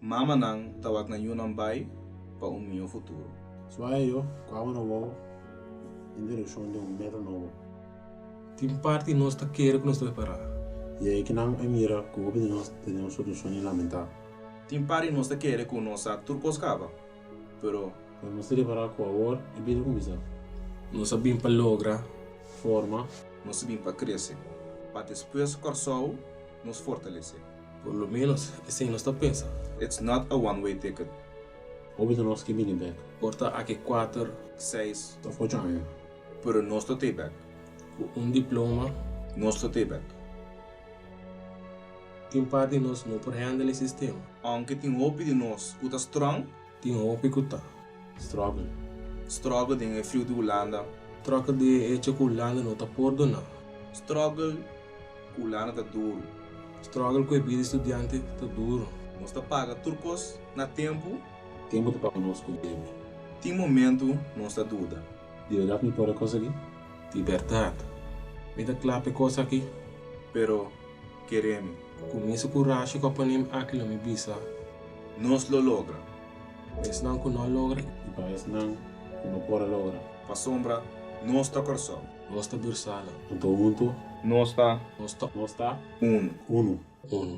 Mamanan ta wak na yunan bai pa un miho futuro. Suaye yo ku awe no wou introduccion den un metro nobo. Tin parti nos ta kere ku nos ta prepará. I e ki nan e mira ku hopi di nos ta den un situashon di lamentá. Tin parti di nos ta kere ku no sa tur kos kaba, pero. Pero nos ta repará ku awor e bida kuminsá. Nos a bin pa logra. Forma. Nos a bin pa krese. Pa despues Kòrsou nos fortalesé. Por lo menos esei nos ta pensa. It's not a one way ticket. Hopi di nos ke bini bek. Por ta aki kuater. Seis. Of ocho aña. Pero nos ta tei bek. Ku un diploma. Nos ta tei bek. Tin part di nos no por handle e sistema. Aunke tin hopi di nos ku ta strong. Tin hopi ku ta struggle. Struggle den e friu di Hulanda. Struggle di e hecho ku Hulanda no ta por duna. Struggle ku Hulanda ta duru. Struggle ku e bida di studiante ta duru. Nos ta paga tur kos na tempu. Tempu ta paga nos ku debe. Tin momentu nos ta duda. Di berdat mi por e kos aki? Di berdat mi ta kla pa e kos aki. Pero keremi. Ku misa kurashi ku a pone mi aki lo mi bisa. Nos lo logra. Pa esnan ku no a logra. I pa esnan ku no por a logra. Pa sombra nos ta persona. Nos ta birsana. Anto huntu. Nos ta. Nos ta. Nos ta. Unu. Unu. Unu.